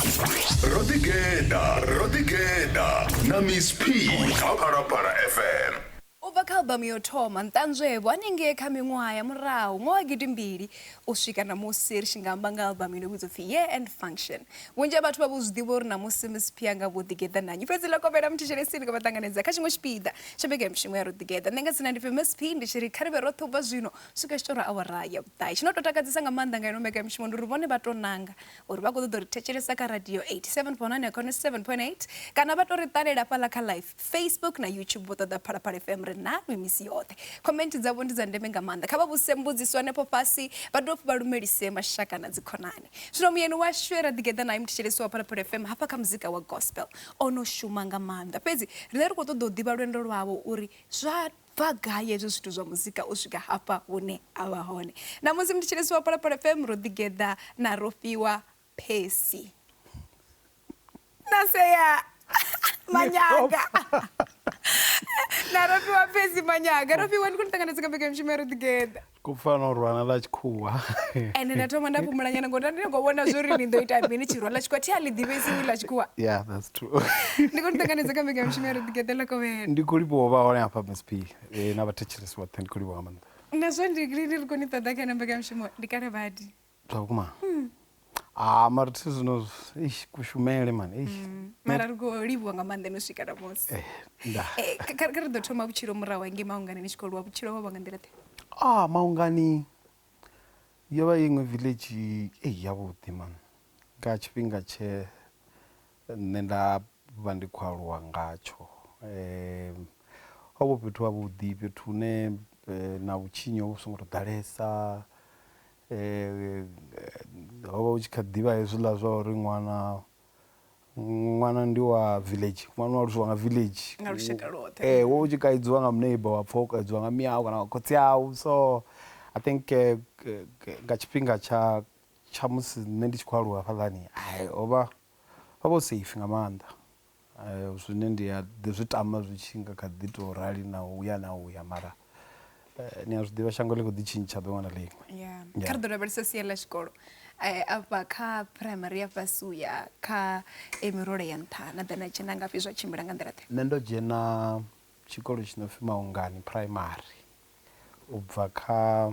ro ḓi geḓa ro ḓi geḓa na miss p kha phalaphala fm U bva kha albamu ya u thoma, Nṱanzwevho, hanengei kha miṅwaha ya murahu nga wa gidimbili u swika ṋamusi ri tshi nga amba nga albamu ino vhidzwa u pfi Year End Function. Vhunzhi ha vhathu vha vho zwi ḓivha uri ṋamusi Miss P a nga vho ḓigeḓa na nnyi. Fhedzi ḽa kovhela muthetshelesi ḽi khou vha ṱanganedza kha tshiṅwe tshipiḓa tsha mbekanyamushumo ya Ro Ḓigeḓa. Nṋe nga dzina ndi pfi Miss P ndi tshi ri kha ri vhe roṱhe u bva zwino u swika zwi tshi tou ra awara ya vhuṱahe. Tshi no tou takadzesa nga maanḓa nga ino mbekanyamushumo ndi uri vhone vha tou nanga uri vha khou ṱoḓa u ri thetshelesa kha radio 87.9 kha 97.8 kana vha tou ri ṱalela fhaḽa kha live facebook na youtube vho ṱoḓa phalaphala fm ri nalwi misi yoṱhe comment dzavho ndi dza ndeme nga maanḓa kha vha vhuse mbudziso hanefho fhasi vha dovha vha lumelise mashaka na dzikhonani zwino muyeni washu e ra ḓigeḓa naye muthetshelesi wa phalaphala fm hafha kha muzika wa gospel o no shuma nga maanḓa fhedzi riṋe ri khou ṱoḓa u ḓivha lwendo lwawo uri zwa bva gai hezwi zwithu zwa muzika u swika hafha hune a vha hone. Na musi ndi tshi lisiwa Phalaphala FM ro ḓigeḓa na Rofhiwa Percy na Sea Manyaga na Rofhiwa Percy Manyaga. Rofhiwa, ndi khou ni ṱanganedza kha mbekanyamushumo ya ro ḓigeḓa. ku pfa no rwana ḽa tshikhuwa ende nda thoma nda fhumula nyana ngori ndi khou vhona zwo ri ni ḓo ita mini tshirwa ḽa tshikhuwa thi a ḽi ḓivhesi ḽa tshikhuwa yeah that's true ndi khou ni ṱanganedza kha mbekanya mushumo ya ri ḓigeḓa ḽa kovhela ndi khou livhuwa vha hone hafha msp eh, na vhathetshelesi vhoṱhe ndi khou livhuwa nga maanḓa na zwo ndi ndi ri khou ni ṱoḓa kha na mbekanya mushumo ndi kale badi zwa vhukuma mm. ah mara thi zwino eish kushumele man eish mm. mara ri khou livhuwa nga maanḓa no swika namusi eh, eh, kha ri ḓo thoma vhutshilo murahu hange maungani ni tshi khou lwa vhutshilo ho vha nga nḓila ḓe ah maungani yo vha iṅwe village ei yavhuḓi man nga tshifhinga tshe nṋe nda vha ndi khou aluwa ngatsho um ho vho fhethu havhuḓi fhethu hune eh, na vhutshinyi ho vhu songo to ḓalesa ho vha hu tshi kha ḓivha hezwiḽa zwa uri ṅwana ṅwana ndi wa village ṅwana wa aluswa nga village nga lushaka lwoṱhe eh wo tshi kaidziwa nga muneiba wa pfha u kaidziwa nga miau kana nga khotsi au so i think eh, nga tshifhinga tsha tsha musi nṋe ndi tshi khou aluwa hafhaḽani hai ho vha ho vha safe nga maanḓa Zwine ndi a ḓi zwi tama zwi tshi nga kha ḓi tou rali na u ya na u ya mara ni a zwi ḓivha shango ḽi kho ḓi tshintsha ḓuvha na ḽiṅwe. Kha ri ḓo lavhelesa sia ḽa tshikolo afha kha phuraimari ya fhasi u ya kha e mirole ya nṱha na ḓa na dzhena ngafhi zwa tshimbila nga nḓila ḓe? Nṋe ndo dzhena tshikolo tshi no pfhi Maungani phuraimari u bva kha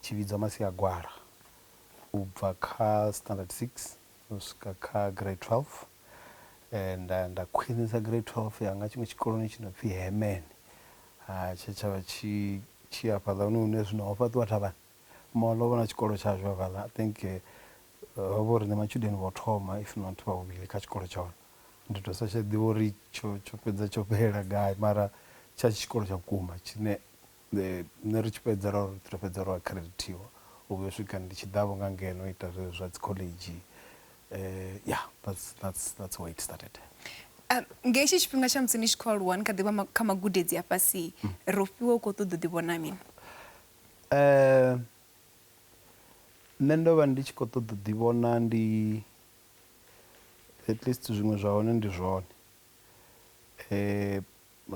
tshi vhidzwa Masiagwala u bva kha standard 6 u swika kha grade 12 nda nda khwinisa grade 12 yanga tshiṅwe tshikoloni tshi no pfi Hemen ha tshe tshavha tshi tshi afhaḽa hune hune zwino ho fhaṱiwa thavhani mall ho vha na tshikolo tshashu hafhaḽa I think ho vha uri ndi matshudeni vho thoma if not vha vhuvhili kha tshikolo tsha hone ndi to sa tsha ḓivha uri tsho tsho fhedza tsho fhelela gai mara tsha tshikolo tsha vhukuma tshine Nṋe ri tshi fhedza ra ri ri fhedza ro akhiredithiwa u vhuya u swika ndi tshi ḓa vho nga ngeno ita zwezwi zwa dzi khoḽedzhi ya that's that's that's where it started. Nga hetshi tshifhinga tsha musi ni tshi kho aluwa ni kha ḓivha kha magudedzi a fhasi ro fhiwa u kho ṱoḓa u ḓi vhona mini? Nṋe ndo vha ndi tshi kho ṱoḓa u ḓi vhona ndi at least zwiṅwe zwa hone ndi zwone.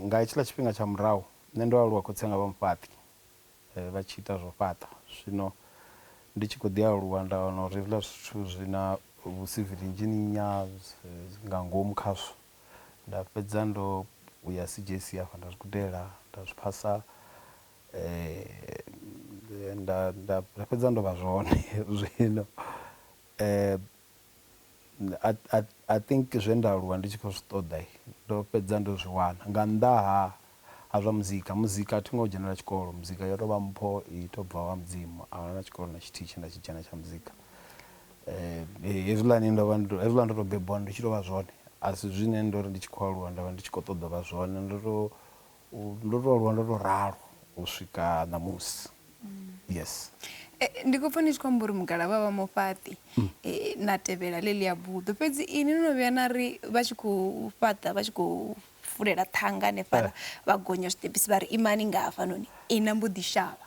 Nga hetshiḽa tshifhinga tsha murahu, nṋe ndo aluwa khotsi anga vha mufhaṱi, vha tshi ita zwa u fhaṱa. Zwino ndi tshi kho ḓi aluwa nda wana uri hezwiḽa zwithu zwi na vhu civil engineer nga ngomu khazwo. Nda fhedza ndo ya CJC hafha nda zwi gudela nda zwi phasa, nda nda nda fhedza ndo vha zwone zwino . I, I, I think zwe nda aluwa ndi tshi khou zwi ṱoḓa ndo fhedza ndo zwi wana nga nnḓa ha ha zwa muzika. Muzika a thi ngo dzhenela tshikolo, muzika yo tou vha mpho i tou bva ha Mudzimu. A huna tshikolo na tshithihi tshe nda tshi dzhena tsha muzika. Hezwiḽani ndo vha ndo, hezwiḽa ndo tou bebiwa ndi tshi tou vha zwone a si zwine ndo ri ndi tshi khou aluwa nda vha ndi tshi khou ṱoḓa u vha zwone. Ndo tou Ndo to aluwa ndo to ralo u swika ṋamusi yes eh, ndi khou pfa ni tshi khou amba uri mugalavha vha mufhaṱi mm. eh, na tevhela ḽeḽi ya buḓo fhedzi ini no no vhuya na ri vha tshi khou fhaṱa vha tshi khou fulela ṱhanga hanefhala eh. vha gonya zwiṱepisi vha ri imani nga hafhanoni ina mbo ḓi shavha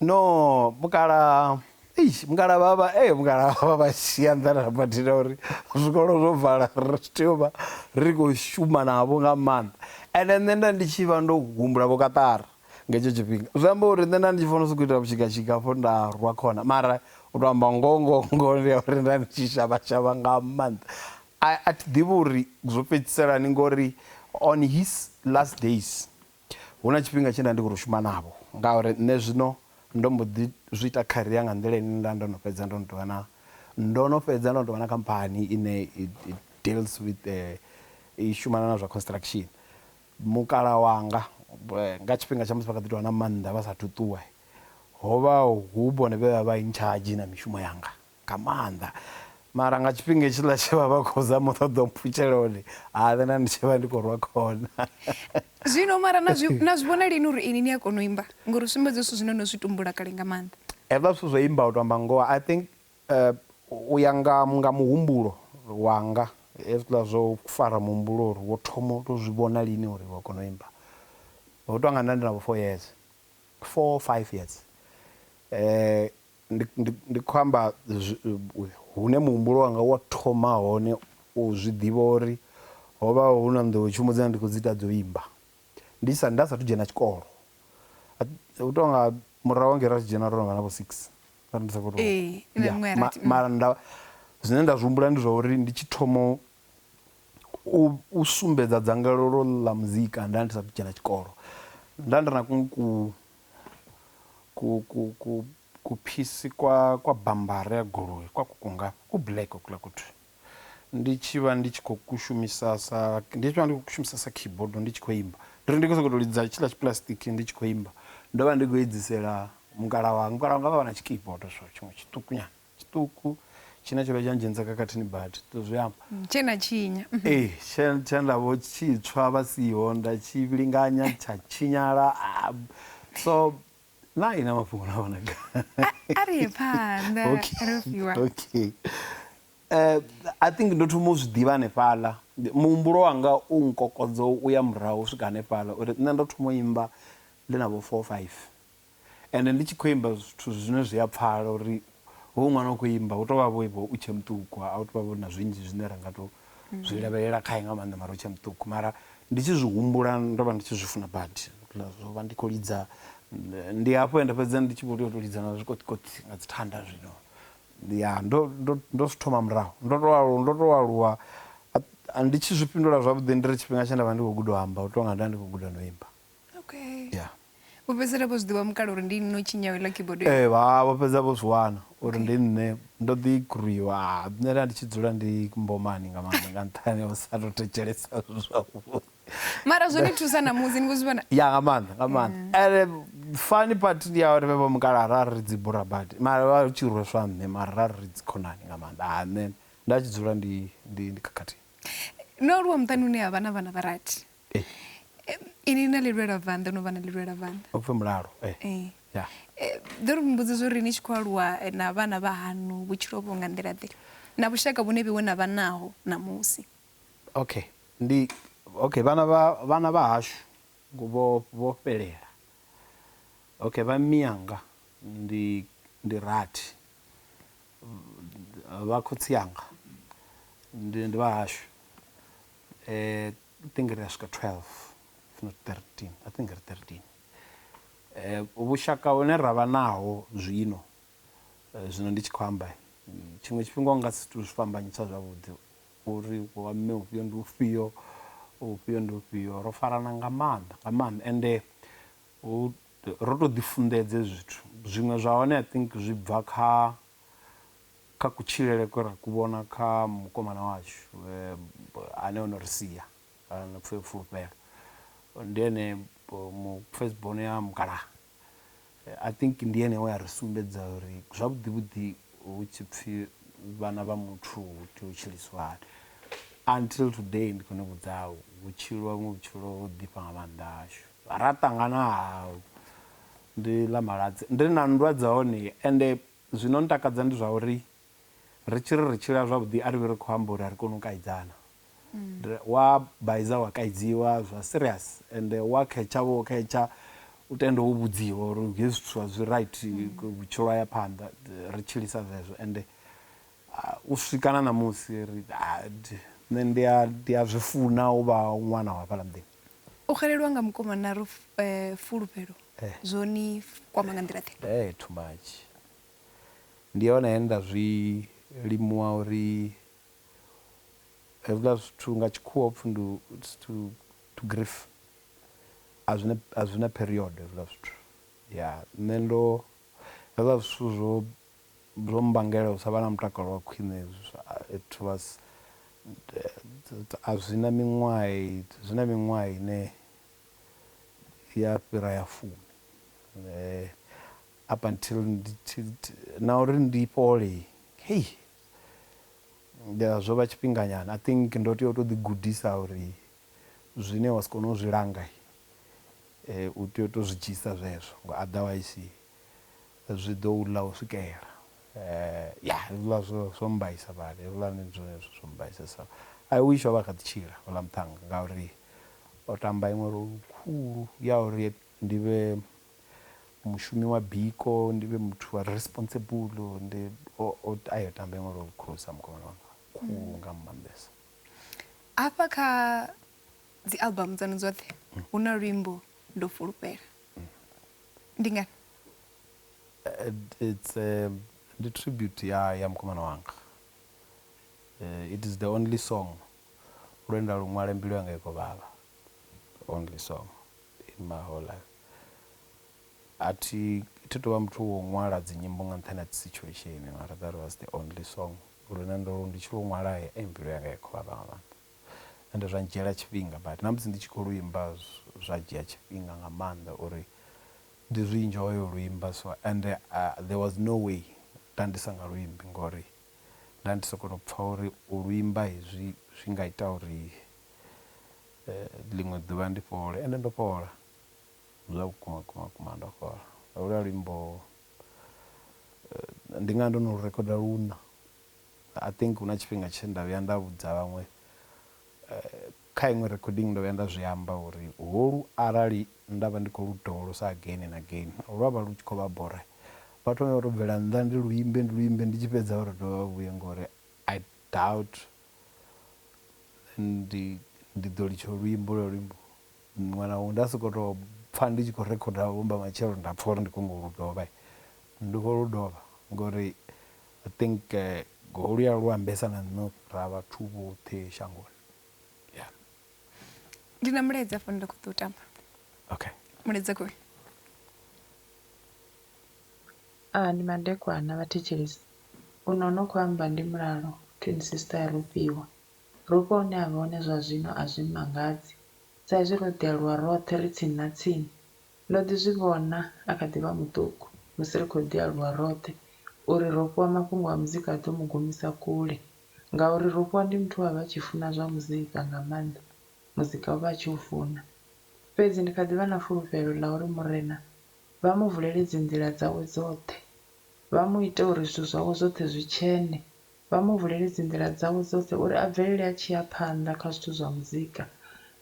No mukalaha eish mukalaha vha vha ee mukalaha vha vha shia nḓani ha badi na uri zwikolo zwo vala ri tshi tea u vha ri khou shuma navho nga maanḓa ende nṋe nda ndi tshi vha ndo humbula vho kaṱara nga hetsho tshifhinga zwi amba uri nṋe nda ndi tshi fanela u sokou ita vhushigatshika hafho nda rwa khona mara u tou amba ngoho ngoho ngoho ndi ya uri nda ndi tshi shavha shavha nga maanḓa a a thi ḓivhi uri zwo fhedzisela hani ngori on his last days. Hu na tshifhinga tshe nda ndi khou tou shuma navho ngauri nṋe zwino ndo mbo ḓi zwi ita career nga nḓila ine nda ndo no fhedza ndo no tou vha na, ndo no fhedza ndo no tou vha na khamphani ine i deals with i shumana na zwa construction. Mukalaha wanga nga tshifhinga tsha musi vha kha ḓi tou vha na maanḓa vha saathu ṱuwa, ho vha hu vhone vhe vha vha in charge na mishumo yanga. nga maanḓa mara nga tshifhinga hetshiḽa tshe vha vha khou zama u ṱoḓa u mpfutshela hone ha na ndi tshi vha ndi khou rwa khona zwino mara na zwi na zwi vhona lini uri ini ni a kona u imba ngori sumbedza zwithu zwine no zwi tumbula kale nga maanḓa hezwiḽa zwithu zwo imba u to amba ngoho i think eh, u ya nga nga muhumbulo wanga hezwiḽa zwo fara muhumbulo uri wo thoma u to zwi vhona lini uri wa kona u imba ho tou nga nda ndi na vho four years four five years eh Ndi, ndi, ndi khou amba hune muhumbulo wanga wa thoma hone u zwi ḓivha uri ho vha hu na nḓowetshumo dzine ndi khou dzi ita dzo imba ndi sa, nda sathu dzhena tshikolo. U tou nga murahu hangei ra tshi dzhena ro no vha na vho six, arali ndi sa khou tou. Ya, mara nda, zwine nda zwi humbula ndi zwa uri ndi tshi thoma u, u sumbedza dzangalelo ḽa muzika nda ndi sathu dzhena tshikolo. Nda ndi na kuṅwe ku. ku ku ku kuphisi kwa kwa bambara ya goloi kwa kuku ngafha ku black hokula kuthu ndi tshi vha ndi tshi khou kushumisa sa ndi tshi vha ndi khou kushumisa sa keyboard ndi tshi khou imba ndi ri ndi khou sokou tou lidza tshiḽa tshipulasitiki ndi tshi khou imba ndo vha ndi khou edzisela mukala wanga mukala wanga vha vha na tshikeyboard so tshiṅwe tshiṱukunyana tshiṱuku tshine tsho vha tsha ndzhenisa khakhathini badi to zwi amba tshe na tshinya mhm. ee tshe tshe nda vho tshitswa vha siho nda tshi linganya tsha tshinyala ah, so na ina mafhungo na vhona a ri ye phanḓa ro fiwa okay eh i think ndo thoma u zwi ḓivha hanefhaḽa muhumbulo wanga u nkokodzo u ya murahu u swika hanefhaḽa uri nṋe ndo thoma u imba ndi na vho 4 5 Ende ndi tshi khou imba zwithu zwine zwi a pfala uri hoyu ṅwana u khou imba hu tou vha vho vho u tshe muṱuku a hu tou vha vho na zwinzhi zwine ra nga tou zwi lavhelela khae nga maanḓa mara u tshe muṱuku mara ndi tshi zwi humbula ndo vha ndi tshi zwi funa badi zwo vha ndi khou lidza ndi hafho ende fhedzi ndi tshi vho tea u tou lidza na zwikoṱikoṱi nga dzi thanda zwino ya ndo ndo ndo zwi thoma murahu ndo to aluwa ndo to aluwa ndi tshi zwi fhindula zwavhuḓi ndi ri tshifhinga tshe nda vha ndi khou guda u amba u tou nga nda ndi khou guda no imba okay yeah vho fhedzisela vho zwi ḓivha mukala uri ndi nne u tshinyaho iḽa keyboard ee eh, vha vho fhedza vho zwi wana uri ndi nne ndo ḓi gruiwa ah, nṋe nda ndi tshi dzula ndi mbomani nga maanḓa nga nṱhani o sa to thetshelesa zwavhuḓi mara zwo ni thusa na musi ni khou zwi vhona ya nga maanḓa nga maanḓa ene fani part ndi ya uri vhe vho mukala ra ri dzi bura badi mara vha tshi rweswa nṋe mara ra ri dzi khonani nga maanḓa ha ah, nṋe nda tshi dzula ndi ndi ndi khakhathini no aluwa muṱani une ha vha na vhana vha rathi Inwi na lilwelavhanḓa, o no vha na lilwelavhanḓa. Upfi mulalo, ee. Ḓo ri mbudziso uri ni tshi khou aluwa na vhana vha haṋu vhutshilo ho vha nga nḓila-ḓe na vhushaka vhune vheiwe na vha naho ṋamusi? Okay, ndi, okay, vhana vha, vhana vha hashu vho, vho fhelela. Okay, vha mmianga ndi, ndi rathi. Vha khotsi anga ndi, ndi vha hashu. Eh, I think ri a swika 12 if not 13, I think ri 13. Eh, vhushaka hune ra vha naho zwino, eh, zwino ndi tshi khou amba, tshiṅwe tshifhinga u nga si tou zwi fhambanyisa zwavhuḓi uri wa mme ufhio ndi ufhio, ufhio ndi ufhio. Ro farana nga maanḓa, nga maanḓa. Ende hu, ro tou ḓifunḓedze zwithu. Zwiṅwe zwa hone I think zwi bva kha Kha kutshilele kwe ra ku vhona kha mukomana washu ane o no ri sia, na pfi fulufhelo, ndi ene mu first born ya mukalaha, I think ndi ene we a ri sumbedza uri zwavhuḓi vhuḓi hu tshi pfi vhana vha muthu hu tea u tshiliswa hani. Until today ndi khou ni vhudza hu tshiliwa vhuṅwe vhutshilo ho ḓifha nga maanḓa hashu. Ra ṱangana ha ndi ḽa Maladzi, ndi na nndwa dza hone ende Zwi no ntakadza ndi zwa uri ri tshi ri ri tshila zwavhuḓi a ri vhi ri khou amba uri a ri koni u kaidzana. Wa baiza wa kaidziwa zwa serious ende wa khetsha wo khetsha u tende wo vhudziwa uri hezwi zwithu a zwi right vhutshilo ha ya phanḓa ri tshilisa zwezwo ende u swika na ṋamusi ri nṋe ndi a ndi a zwi funa u vha ṅwana wa hafhaḽa muḓini. O xelelwa nga mukomana ro fulufhelo zwo ni kwama nga nḓila ḓe? Hee too much. Ndi hone he nda zwi limuwa uri hezwiḽa zwithu nga tshikhuwa ho pfi ndi it's to to grief a zwina a zwina period hezwiḽa zwithu ya nṋe ndo hezwiḽa zwithu zwo Zwo mmbangela u sa vha na mutakalo wa khwine hezwo it was a zwi na miṅwaha zwi na miṅwaha ine ya fhira ya fumi up until ndi tshi na uri ndi fhole hei zwo vha tshifhinga nyana I think ndo tea u to ḓi gudisa uri zwine wa si kone u zwi langa u tea u to zwi dzhia zwezwo nga otherwise. zwi ḓo u ḽa u swikela. Ya, hezwiḽa zwo, zwo mmbaisa badi. Hezwiḽa ndi zwone zwithu zwo mmbaisesaho. I wish o vha a kha ḓi tshila houḽa muṱhannga ngauri o tamba iṅwe role khulu ya uri ndi vhe mushumi wa biko, ndi vhe muthu a re responsible. Ndi, o, o, ai o tamba iṅwe role khulusa mukomana wanga, khulu nga maanḓesa. Hafha kha dzi album dzaṋu dzoṱhe hu na luimbo Ndo Fulufhela. ndi ngani it's a, ndi tribute ya ya mukomana wanga uh, it is the only song lwenda luṅwale mbilu yanga i khou vhavha only song in my whole life a thi thi tovha muthu wo ṅwala dzinyimbo nga nṱhani ha situation mara that was the only song lune ndo ndi tshi lu ṅwala e mbilu yanga i khou vhavha nga maanḓa ende zwa ndzhiela tshifhinga but na musi ndi tshi kho luimba zwa dzhia tshifhinga nga maanḓa uri ndi zwi enjoy u luimba so ende there was no way nda ndi sa nga luimbi ngori nda ndi soko to pfha uri u luimba hezwi zwi nga ita uri ḽiṅwe ḓuvha ndi fhole ende ndo fhola zwa vhukuma vhukuma vhukuma ndo fhola holwa luimbo ndi nga ndo no rikhoda luṋa. I think huna tshifhinga tshe nda vhuya nda vhudza vhaṅwe kha iṅwe recording ndo vhuya nda zwi amba uri holu arali nda vha ndi kho lu dovholosa again and again lwa vha lu tshi kho vha bora vha thome vha to bvela nnḓa ndi lu imbe ndi lu imbe ndi tshi fhedza vha to dovha vha vhuye ngori I doubt ndi ndi ḓo litsha luimbo holwo luimbo muṅwe na muṅwe nda soko to pfha ndi tshi kho rikhoda vhomba matshelo nda pfha uri ndi kho nyago lu dovha ndi kho lu dovha ngori I think Golia lu ambesa na nṋe ra vhathu vhoṱhe shangoni. Yeah. Ndi na mulaedza fhano nda kho ḓo tamba. Okay. Mulaedza kho. Ah ndi madekwana vha thetshelesi. U no no kho amba ndi mulalo twin sister ya Rofhiwa. Rofhiwa hune avha hone zwa zwino a zwi mmangadzi sa izwi ro ḓi aluwa roṱhe ri tsini na tsini. Ndo ḓi zwi vhona a kha ḓi vha muṱuku, musi ri khou ḓi aluwa roṱhe, uri ro fhiwa mafhungo a muzika a ḓo mu gumisa kule. Ngauri ro fhiwa ndi muthu we a vha a tshi funa zwa muzika nga maanḓa, muzika o vha a tshi u funa. Fhedzi ndi kha ḓi vha na fulufhelo ḽa uri Murena vha mu vulele dzinḓila dzawe dzoṱhe, vha mu ite uri zwithu zwawe zwoṱhe zwi tshene. vha mu vulele dzinḓila dzawe dzoṱhe uri a bvelele a tshi ya phanḓa kha zwithu zwa muzika,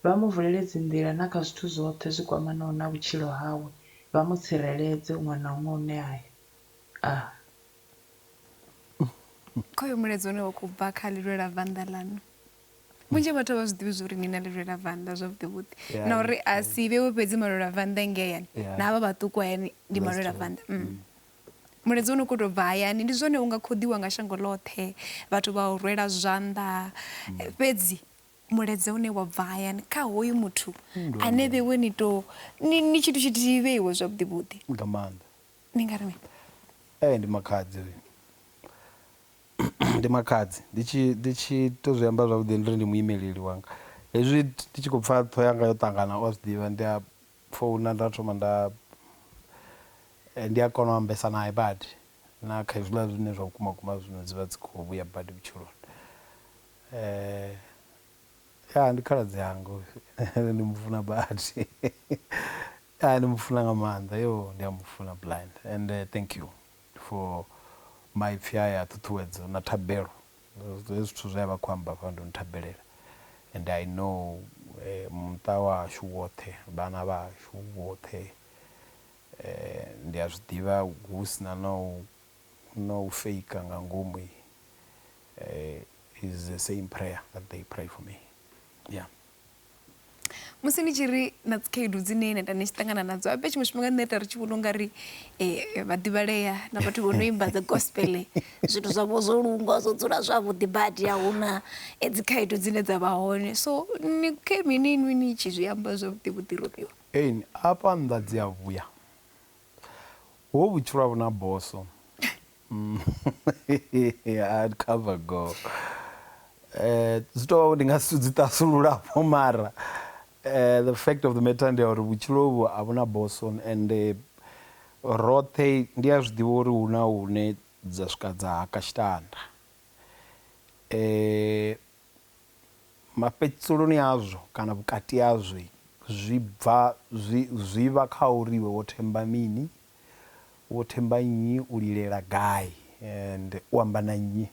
vha mu vulele dzinḓila na kha zwithu zwoṱhe zwi kwamanaho na vhutshilo hawe, vha mu tsireledze huṅwe na huṅwe hune a ya. Ah. Kha uyo mulaedza une wa khou bva kha Lilwela Vanda Ḽaṋu, vhunzhi ha vhathu a vha zwi ḓivhi zwa uri ni na Lilwela Vanda zwavhuḓivhuḓi yeah, na uri a si vhewe fhedzi malwela vanda ngei hayani yeah. na havha vhaṱuku hayani ndi malwela vanda mm. mm. Mulaedza wone u khou tou bva hayani. Ndi zwone u nga khoḓiwa nga shango ḽoṱhe, vhathu vha u rwela zwanḓa, fhedzi mulaedza une wa bva hayani kha hoyu muthu ane vheiwe ni tou, ni, ni tshithu tshithihi vheiwe zwavhuḓi-vhuḓi. Nga maanḓa. Ni nga ri mini? Ee, ndi makhadzi ri. Ndi makhadzi. Ndi tshi, ndi tshi tou zwi amba zwavhuḓi ndi ri ndi muimeleli wanga. Hezwi ndi tshi khou pfa ṱhoho yanga yo ṱangana, u a zwi ḓivha, ndi a Founa nda thoma nda ndi a kona u ambesa nae badi na kha hezwiḽa zwine zwa vhukuma vhukuma zwino dzi vha dzi kho vhuya badi vhutshiloni ya ndi khaladzi anga hoyu ende ndi mufuna badi ya ndi mufuna nga maanḓa yo ndi a mufuna blind ende thank you. for maipfi aya a ṱhuṱhuwedzo na thabelo hezwi zwithu zwe a vha a khou amba hafha ndo no thabelela and I know muṱa wa hashu woṱhe vhana vha hashu vhoṱhe ndi a zwi ḓivha hu si na na u na u faker nga ngomu is the same prayer that they pray for me yeah. musi ni tshi ri na dzikhaedu dzine na ita ni tshi ṱangana nadzo abe tshiṅwe tshifhinga nṋe ita ri tshi vhona u nga ri um vhaḓivhalea na vhathu vho no imba dzi gospel zwithu zwavho zwo lungwa zwo dzula zwavhuḓi badi a huna eh, dzikhaedu dzine dza vha hone so ni khe mini inwi ni tshi zwi amba zwavhuḓi vhuḓi robiwa Ein, afha nnḓa dzi a vhuya ho vhutshilo a vhuna boso Mm, hard cover go eh zwi tou ndi nga si dzi tasulula po mara eh the fact of the matter ndi ya uri vhutshilo vhu a vhuna boson and eh, roṱhe ndi a zwiḓivha uri hu na hune dza swika dza haka tshitanda eh mafhedziselo-ni azwo kana vhukati hazwo zwi bva zwi zwi vha kha uri iwe wo themba mini, wo themba nnyi, u lilela gai and u amba na nnyi.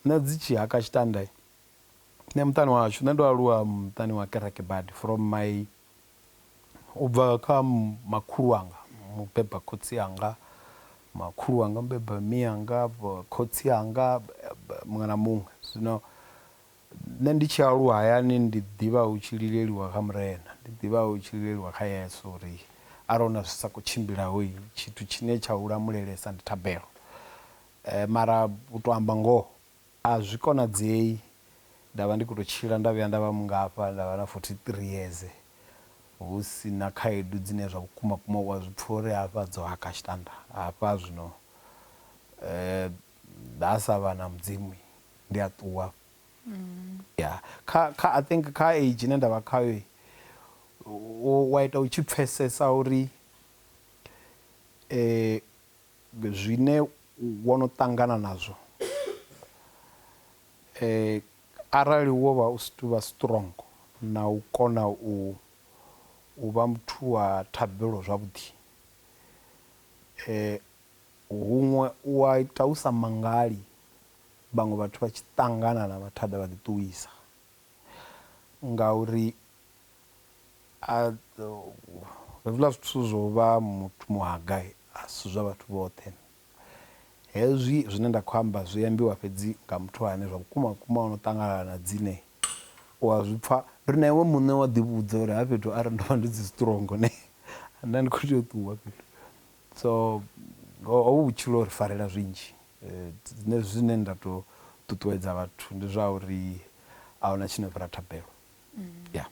Nṋe dzi tshi haka tshitanda, nṋe muṱani wa hashu nṋe ndo aluwa muṱani wa kereke badi from my U bva kha makhulu wanga mubeba khotsi anga, makhulu wanga mubeba mme anga, khotsi anga muṅwe na muṅwe. Zwino nṋe ndi tshi aluwa hayani ndi ḓivha hu tshi lileliwa kha Murena, ndi ḓivha hu tshi lileliwa kha Yesu uri arali huna zwi sa khou tshimbilaho tshithu tshine tsha u lamulelesa ndi thabelo. Mara u to amba ngoho A zwi konadzei nda vha ndi khou tou tshila nda vhuya nda vha mungafha, nda vha na 43 yeze hu si na khaedu dzine zwa vhukuma kuma u a zwi pfa uri hafha dzo haka tshitanda hafha zwino nda sa vha na Mudzimu ndi a ṱuwa. Ya, kha, kha, I think kha age ine nda vha khayo u a ita u tshi pfesesa uri zwine wo no ṱangana nazwo arali wo vha u si tuvha strong na u kona u u vha muthu wa thabelo zwavhuḓi huṅwe u a ita u sa mangali vhaṅwe vhathu vha tshi ṱangana na mathada vha ḓi ṱuwisa ngauri A Hezwiḽa zwithu zwo vha muthu muHagai, a si zwa vhathu vhoṱhe. Hezwi zwine nda khou amba zwi ambiwa fhedzi nga muthu ane zwa vhukuma-vhukuma o no ṱanganana na dzine u a zwi pfa. Ri na iwe muṋe wa ḓivhudza uri ha fhethu arali ndo vha ndi si strong ne nda ndi khou tea u ṱuwa fhethu. So hovhu vhutshilo ho ri farela zwinzhi. Nṋe zwine nda tou ṱuṱuwedza vhathu ndi zwa uri a hu na tshi no fhira thabelo. ya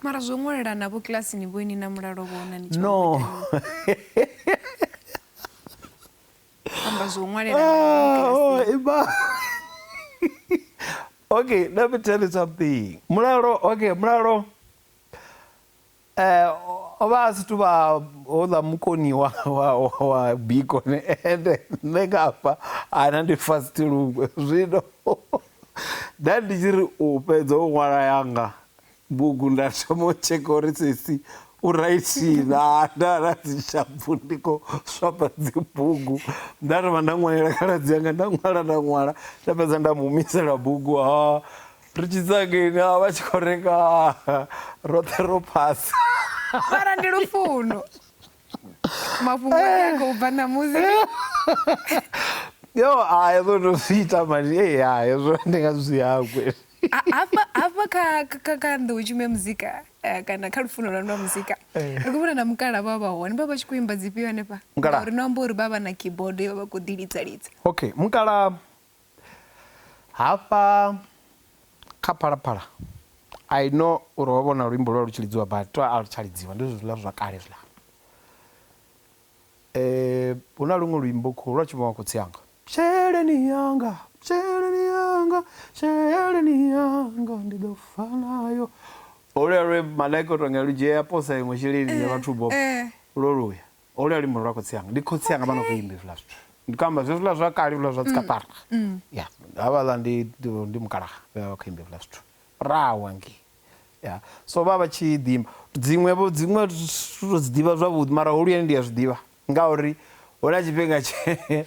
mara zwo ṅwelela navho kilasini vho ini na mulalo vhona ni no amba zwo ṅwelela ah, oh, ima okay let me tell you something mulalo okay mulalo o vha a si tuvha houḽa mukoni wa wa wa biko ende nṋe nga hafha ana ndi fast lungwe zwino nda ndi tshi ri u fhedza u ṅwala yanga bugu nda thoma u tsheka uri sesi u raithi na nda na dzi shapfu ndi kho swapa dzi bugu nda thoma nda ṅwalela khaladzi yanga nda ṅwala nda ṅwala nda fhedza nda mu humisela bugu ha ri tshi tsangeni a vha tshi khou renga roṱhe ro phasa mara ndi lufuno mafhungo a khou bva ṋamusi yo a hezwo ndo zwi ita mani e ya hezwo ndi nga zwi hangwe hafha kha kha kha nḓou tshimo ya muzika eh, kana kha lufuno lwa lwa muzika eh. ri khou vhona na mukala vha vha hone vha vha tshi khou imba dzifhio hanefha uri no amba uri vha vha na keyboard yo vha vha khou ḓi lidza lidza okay mukala Hafha kha Phalaphala I know uri ho vha huna luimbo lwa lu tshi lidziwa but to a lu tsha lidziwa ndi zwezwi zwiḽa zwa kale zwiḽa. Huna luṅwe luimbo khou lwa tshi imbiwa nga khotsi anga sheleni yanga sheleni yanga sheleni yanga ndi ḓo fa nayo holuyani lwe malaika uto nga lu dzhia ya posa iṅwe sheleni ya vhathu vho lwo luya. Holu ya luimbo ndi lwa khotsi anga, ndi khotsi anga vha no khou imba hezwiḽa zwithu. Ndi khou amba zwezwiḽa zwa kale hezwiḽa zwa dzikaṱara. Ya, havhaḽa ndi ndi mukalaha vhe vha vha khou imba hezwiḽa zwithu. Rrawe hangei. Ya, so vha vha tshi ḓi imba. Dziṅwe-vho, dziṅwe thi thu to dzi ḓivha zwavhuḓi mara holuyani ndi a zwi ḓivha ngauri hu na tshifhinga tshe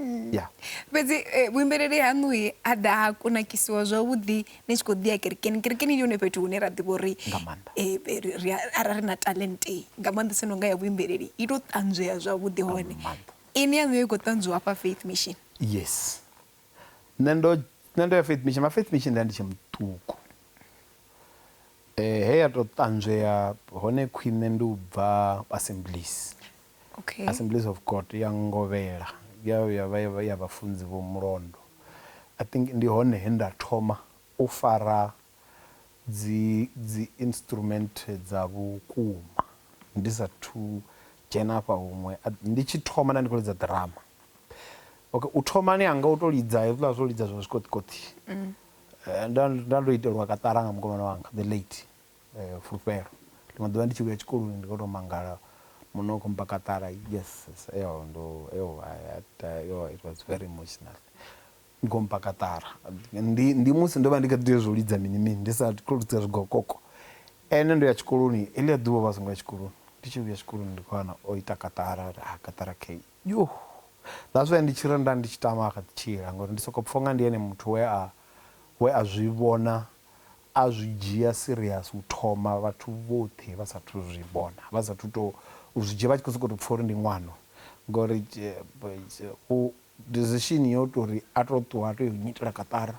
Mm. Yeah. fhedzi eh, vhuimbeleli haṋu he ha ḓa ha kunakisiwa zwavhuḓi ni tshi khou ḓi ya kerekeni kerekeni ndi hone fhethu hune ra ḓivha uri Nga maanḓa. eh, eh, ri- ri a- arali ri na talente nga maanḓesa no nga ya vhuimbeleli i tou ṱanzwea zwavhuḓi hone maanḓa. ini yaṋu yo i khou ṱanzwiwa hafha faith mission yes nṋe ndo nṋe ndo ya faith mission ma faith mission nda ndi tshe muṱuku eh he ya to ṱanzwea hone khwine ndi u bva assemblies Okay. Assemblies of God ya ngovhela ya ya vha ya vha ya vhafunzi vho mulondo I think ndi hone he nda thoma u fara dzi dzi instrument dza vhukuma ndi sa thu dzhena afha huṅwe ndi tshi thoma nda ndi kho lidza ḓirama okay u thomani hanga u to lidza hezwiḽa zwo lidza zwa zwikoṱikoṱi nda nda ndo itelwa kaṱara nga mukomana wanga the late fulufhelo. Ḽiṅwe ḓuvha ndi tshi vhuya tshikoloni ndi kho to mangala muṋe u kho mmba kaṱara yes ndo yo it was very emotional u kho mmba kaṱara ndi ndi musi ndo vha ndi kha ḓi tea zwo lidza mini mini ndi sa kho lidza zwigokoko ene ndo ya tshikoloni heḽia ḓuvha ovha a songo ya tshikoloni ndi tshi vhuya tshikoloni ndi kho wana o ita kaṱara uri ha kaṱara kheyi yoo that's why ndi tshi ri nda ndi tshi tama a kha ḓi tshila ngori ndi soko pfha unga ndi ene muthu we a we a zwi vhona A zwi dzhia serious u thoma vhathu vhoṱhe vha sathu zwi vhona vha sathu to u zwi dzhia vha tshi kho soko to pfha uri ndi ṅwano ngori u decision yo tori a to ṱuwa a to yo nyitela kaṱara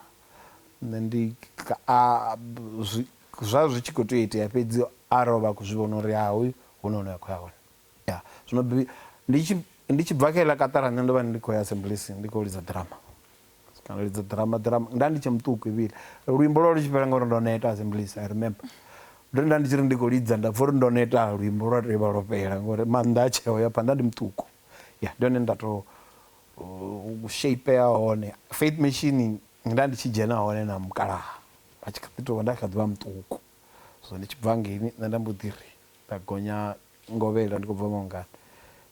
nṋe ndi a zwi zwa zwi tshi kho tea u itea fhedzi arali ovha a kho zwi vhona uri ha hoyu huna hune a kho ya hone. Ya, zwino bi, ndi tshi, ndi tshi bva kha iḽa kaṱara, nṋe ndo vha ndi khou ya Assemblies, ndi khou lidza ḓirama. Kana u lidza ḓirama, ḓirama, nda ndi tshe muṱuku Evile. Luimbo lwo vha lu tshi fhela nga uri ndo neta, Assemblies, I remember. Ndo ri nda ndi tshi ri ndi khou lidza, nda pfa uri ndo neta, luimbo lwa tea u vha lwo fhela, nga uri maanḓa a tsheo ya phanḓa, nda ndi muṱuku. Ya, ndi hone he nda tou u sheipeya hone. Faith Mission, nda ndi tshi dzhena hone na mukalaha, a tshi kha ḓi tou vha, nda kha ḓi vha muṱuku. Zwino ndi tshi bva hangeini, nṋe nda mbo ḓi ri. Nda gonya ngovhela ndi khou bva mangani.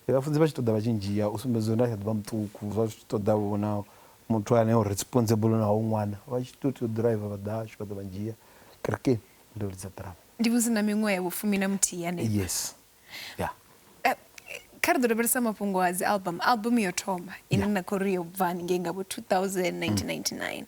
Ndi vhafunzi vha tshi ṱoḓa vha tshi ndzhia u sumbedza uri nda kha ḓi vha muṱuku zwa zwi tshi ṱoḓa vho na muthu ane o responsible na hoyu ṅwana. Vha tshi tou tea u ḓiraiva vha ḓa hashu vha ḓa vha ndzhia kerekeni ndo lidza ḓirama. Ndi vha ndi na miṅwaha ya vhufumi na muthihi hanefha. Yes. Ya. Kha ri ḓo lavhelesa mafhungo a dzi album. Album yo thoma ine na khou ri yo bva haningei nga vho 2000, 1999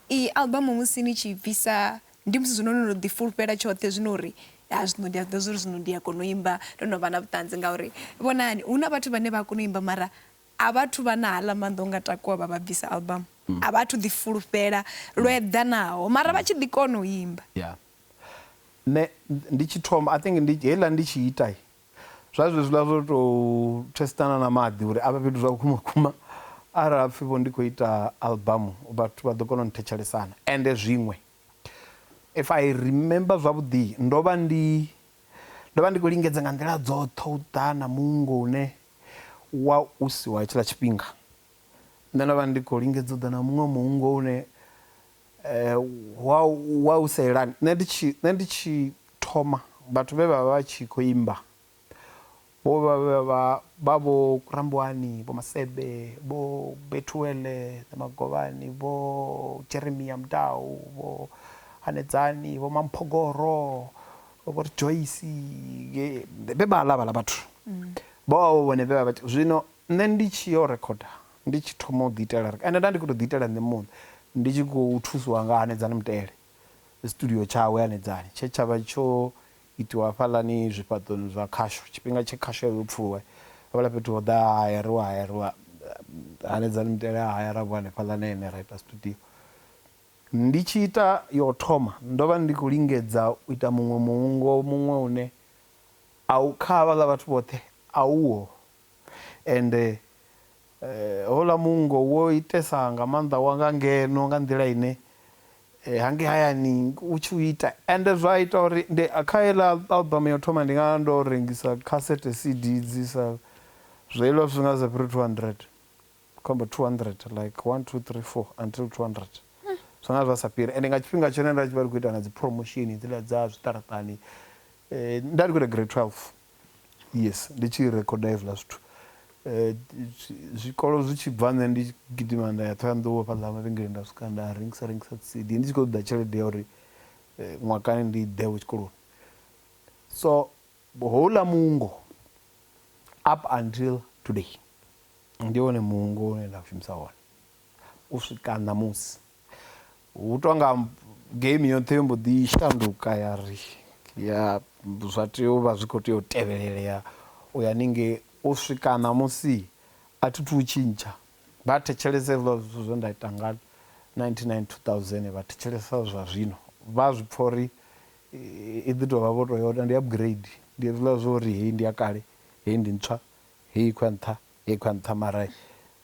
Iyi album musi ni tshi i bvisa ndi musi zwino no no ḓi fulufhela tshoṱhe zwino uri ha zwino ndi a zwiḓivha zwori zwino ndi a kona u imba ndo no vha na vhuṱanzi ngauri vhonani hu na vhathu vhane vha a kona u imba mara a vha thu vha na haḽa maanḓa o nga takuwa vha vha bvisa album a vha thu ḓi fulufhela lwo eḓanaho mara vha tshi ḓi kona u imba. Yeah nṋe ndi tshi thoma I think ndi heiḽa ndi tshi ita Zwa zwezwiḽa zwo tou thesitana na maḓi uri a vhe fhethu zwa vhukuma vhukuma. Arali ha pfi vho ndi khou ita albamu vhathu vha ḓo kona u nthetshelesana. Ende zwiṅwe if I remember zwavhuḓi ndo vha ndi, ndo vha ndi khou lingedza nga nḓila dzoṱhe u ḓa na muungo une wa u si wa hetshiḽa tshifhinga. Nṋe ndo vha ndi khou lingedza u ḓa na muṅwe muungo une. Wa, wa u sa yelani. Nṋe ndi tshi, nṋe ndi tshi thoma, vhathu vhe vha vha vha tshi khou imba vho vha vha vha vha vho Rambuwani, Vho Masebe, Vho Bethuel Magovhani, Vho Jeremia Mudau, Vho Hanedzani, Vho Mamphogoro, Vho Ri Joyce, vhe vhaḽa vhaḽa vhathu. Vho vha vho vhone vhe vha vha tshi, zwino nṋe ndi tshi yo rekhoda Ndi tshi thoma u ḓiitela ri, ende nda ndi khou tou ḓiitela nṋe muṋe, ndi tshi khou thusiwa nga Hanedzani Mutele, studio tshawe Hanedzani tshe tsha vha tsho itiwa hafhaḽani zwifhaṱoni zwa khasho, tshifhinga tshe khasho ya vha yo pfuluwa, hafhaḽa fhethu ho ḓa ha hayariwa, ha hayariwa, Hanedzani Mutele a hayara vho hanefhaḽa na ene ra ita studio. Ndi tshi ita ya u thoma, ndo vha ndi khou lingedza u ita muṅwe muungo muṅwe une a u, kha havhaḽa vhathu vhoṱhe a uho, Ende houḽa muungo wo itesa nga maanḓa wa nga ngeno nga nḓila ine hangei hayani u tshi u ita. Ende zwa ita uri ndi kha heiḽa album ya u thoma ndi nga vha ndo rengisa cassette CD dzi sa zwa iḽa zwithu zwi nga zwi sa fhiri 200, ndi khou amba 200 like one, two, three, four until 200 zwa nga zwa sa fhiri. Ende nga tshifhinga tshone nda tshi vha ndi khou ita na dzi promotion hedziḽa dza zwiṱaraṱani nda ndi khou ita grade 12. Yes ndi tshi recorder hezwiḽa zwithu zwikolo zwi tshi bva nṋe ndi gidima nda ya Ṱhohoyanḓou hafhaḽa mavhengeleni nda swika nda rengisa rengisa dzi cd ndi tshi kho ṱoḓa tshelede ya uri ṅwakani ndi ḓe vho tshikoloni so houḽa muungo up until today ndi wone muungo une nda u shumisa wone u swika ṋamusi. Hu tonga game yoṱhe yo mbo ḓi shanduka ya ri ya zwa tea u vha zwi kho tea u tevhelelea u ya haningei u swika ṋamusi a thi thu u tshintsha vha thetshelesa hezwiḽa zwithu zwe nda ita nga nineteen ninety two thousand vha thetshelesa zwa zwino vha zwi pfha uri i ḓi tovha vho to ya uri ndi upgrade ndi hezwiḽa zwa uri heyi ndi ya kale heyi ndi ntswa Hei khou ya nṱha, hei khou ya nṱha mara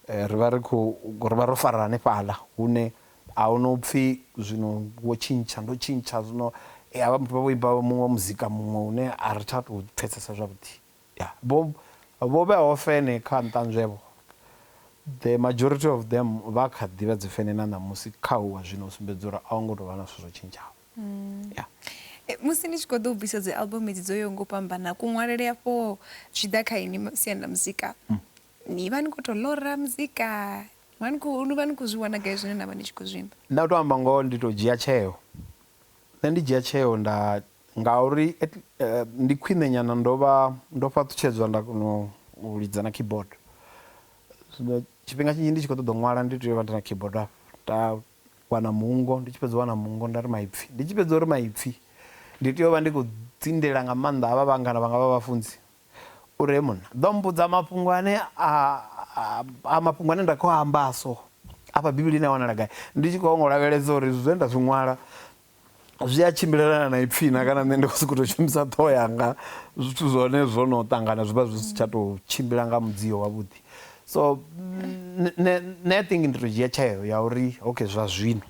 ri vha ri khou, ri vha ro fara hanefhaḽa hune a hu no pfhi zwino wo tshintsha, ndo tshintsha zwino. Ha vha vho imba muṅwe muzika muṅwe une a ri tsha tou pfhesesa zwavhuḓi. Ya, vho vho vheaho fene kha nṱanzwevho, the majority of them vha kha ḓi vha dzi fene na ṋamusi kha uwa zwino u sumbedza uri a ho ngo tou vha na zwithu zwo tshintshaho. Mm. Yeah. E, musi ni tshi khou ḓo u bvisa dzi album edzi dzo yo ngo fhambana kuṅwalele afho zwi ḓa kha ini siani ḽa muzika mm. ni vha ni khou tou lora muzika ni vha ni khou zwi wana gai zwine na vha ni tshi khou zwimba nda u tou amba ngoho ndi tou dzhia tsheo nṋe ndi dzhia tsheo nda ngauri eh, ndi khwine nyana ndo vha ndo fhaṱutshedzwa nda kona u lidza na keyboard zwino tshifhinga tshinzhi ndi tshi khou ṱoḓa u ṅwala ndi tea u vha ndi na keyboard afho wana muungo, ndi tshi fhedza u wana muungo nda ri maipfi, ndi tshi fhedza uri maipfi ndi tea u vha ndi khou dzindela nga maanḓa havha vhangana vhanga vha vhafunzi uri hee munna ḓo mmbudza mafhungo ane a mafhungo ane nda khou a amba a so afha Bivhilini a wanala gai, ndi tshi khou ngo lavhelesa uri zwine nda zwi ṅwala zwi a tshimbilelana na ipfhi na kana nṋe ndi khou sokou tou shumisa ṱhoho yanga zwithu zwa hone zwo no ṱangana zwi vha zwi si tsha tou tshimbila nga mudzio wavhuḓi so nṋe i think ndi tou dzhia tsheo ya uri okay zwa zwino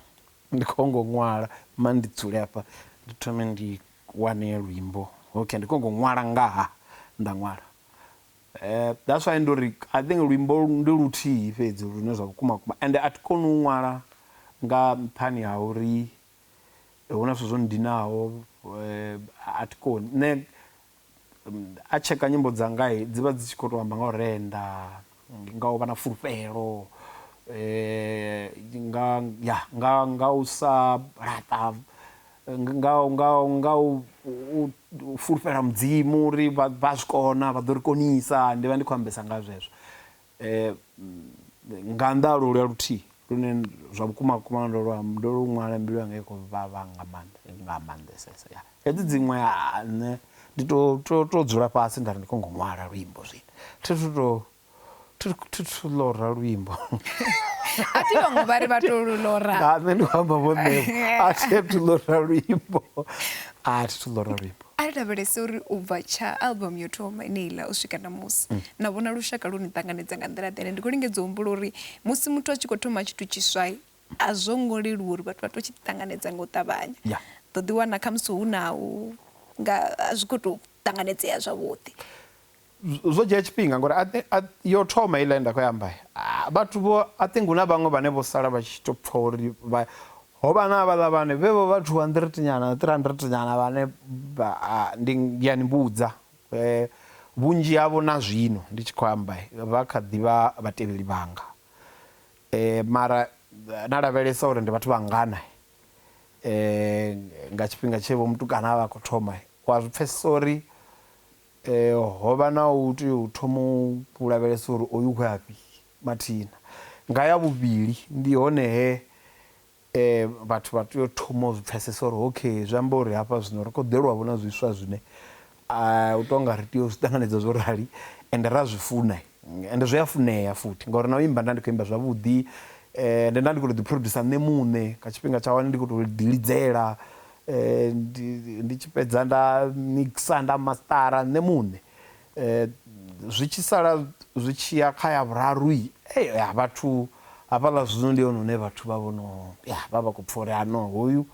ndi khou ngo ṅwala ma ndi dzule hafha ndi thome ndi wane luimbo okay ndi khou ngo ṅwala ngaha nda ṅwala. That's why ndo ri I think luimbo ndi luthihi fhedzi lune zwa vhukuma vhukuma ende a thi koni u ṅwala nga nṱhani ha uri hu na zwithu zwo nndinaho a thi koni. Nṋe a tsheka nyimbo dzanga dzi vha dzi tshi khou tou amba nga u renda, nga u vha na fulufhelo, nga ya nga u sa laṱa. nga nga nga u fulufhela mudzimu uri vha vha zwi kona vha ḓo ri konisa ndi vha ndi khou ambesa nga zwezwo um nga nnḓa ha lolwa luthihi lune zwa vhukuma vhukuma ndo lwa ndo lu ṅwala mbilu yanga i khou vhavha nga maanḓa nga maanḓesesa ya hedzi dziṅwe nṋe ndi to to to dzula fhasi nda ri ndi kho ngo ṅwala luimbo zwino thi thu to thuthu lora luimbo a thi vhaṅwe vha ri vha to lu lora nga nṋe ndi amba vho nṋe a thi thu lora luimbo a thi thu lora luimbo a ri lavhelese uri u bva tsha album yo thoma ine iḽa u swika na musi mm. na vhona lushaka lu ni ṱanganedza nga nḓila ḓene ndi khou lingedza u humbula uri musi muthu a tshi khou thoma tshithu tshiswa a zwo ngo leluwa uri vhathu vha to tshi ṱanganedza nga u ṱavhanya ḓo ḓiwana khamusi hu na u nga a zwi khou tou ṱanganedzea zwavhuḓi Zwo dzhia tshifhinga ngori a thi, a, yo thoma heiḽa ye nda khou i amba. A, vhathu vho, I think hu na vhaṅwe vhane vho sala vha tshi tou pfa uri vha, ho vha na havhaḽa vhane, vhe vho vha 200 nyana, 300 nyana vhane vha, a, ndi, ndi a ni vhudza, vhunzhi havho na zwino ndi tshi khou amba vha kha ḓi vha vhatevheli vhanga. Mara na lavhelesa uri ndi vhathu vhangana nga tshifhinga tshe vho mutukana a vha a khou thoma, u a zwi pfesesa uri Ho vha na u tea u thoma u lavhelesa uri oyu u khou ya fhi mathina. Nga ya vhuvhili ndi hone he vhathu vha tea u thoma u zwi pfesesa uri okay zwi amba uri hafha zwino ri khou ḓelwa vho na zwiswa zwine u to nga ri tea u zwi ṱanganedza zwo rali ende ra zwi funa ende zwi a funea futhi ngauri na u imba nda ndi kho imba zwavhuḓi ende nda ndi kho to ḓi producer nṋe muṋe nga tshifhinga tsha hone ndi kho to ḓi lidzela. Ndi tshi fhedza nda mixer nda mastara nṋe muṋe zwi tshi sala zwi tshiya kha ya vhuraru ya vhathu hafhaḽa zwino ndi hone hune vhathu vha vhono ya vha vha kho pfha uri hano hoyu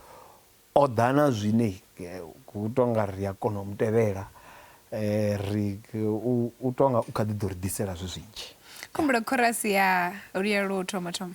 o ḓa na zwine hu tonga ri a kona u mutevhela ri u tonga u kha ḓi ḓo ri ḓisela zwi zwinzhi. Khumbula khorasi ya luya lwo thoma thoma.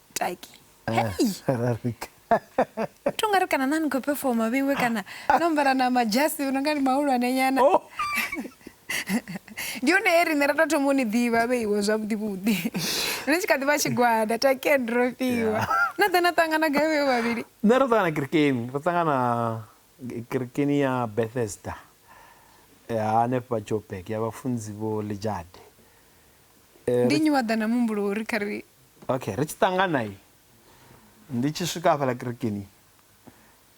taki hei to nga ri kana na ni khou pefoma vheiwe kana no ambara na majasi no nga ni mahulwane nyana oh. ndi hone he riṋe ra tou thoma u ni ḓivha vheiwe zwavhuḓi vhuḓi ri tshi kha ḓi vha tshigwada taken ro fhiwa na ḓa na ṱangana gai vheiwe vhavhili nṋe ro ṱangana kirikeni ro ṱangana kirikeni ya bethesda hanefha jobek ya vhafunzi vho lijade Ndi nnyi wa ḓa na muhumbulo wo ri kha ri. Okay, ri tshi ṱangana i. Ndi tshi swika hafhaḽa kerekeni.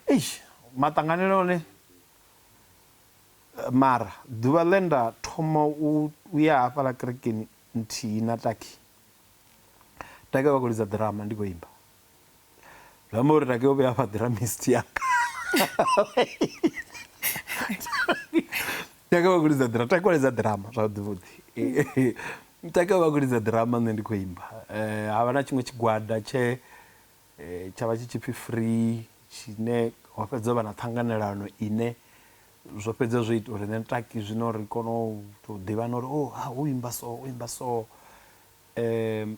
Eish, maṱanganele one. Mara ḓuvha ḽe nda thoma u ya hafhaḽa kerekeni nthihi na Taki. Taki vha khou lidza ḓirama ndi khou imba. zwi amba uri rake o vhuya fha dramist yanga taka vha kulidza drama takuledza drama zwavhuḓivhuḓi taka vha kulidza drama nṋe ndi khou imba um ha vha na tshiṅwe tshigwada tshe um tsha vha tshi tshipfi free tshine ho fhedza vha na ṱhanganelano ine zwo fhedza zwo ita uri nṋe taki zwino ri kone u tou ḓivhana uri o oh, ha u imba so u imba so um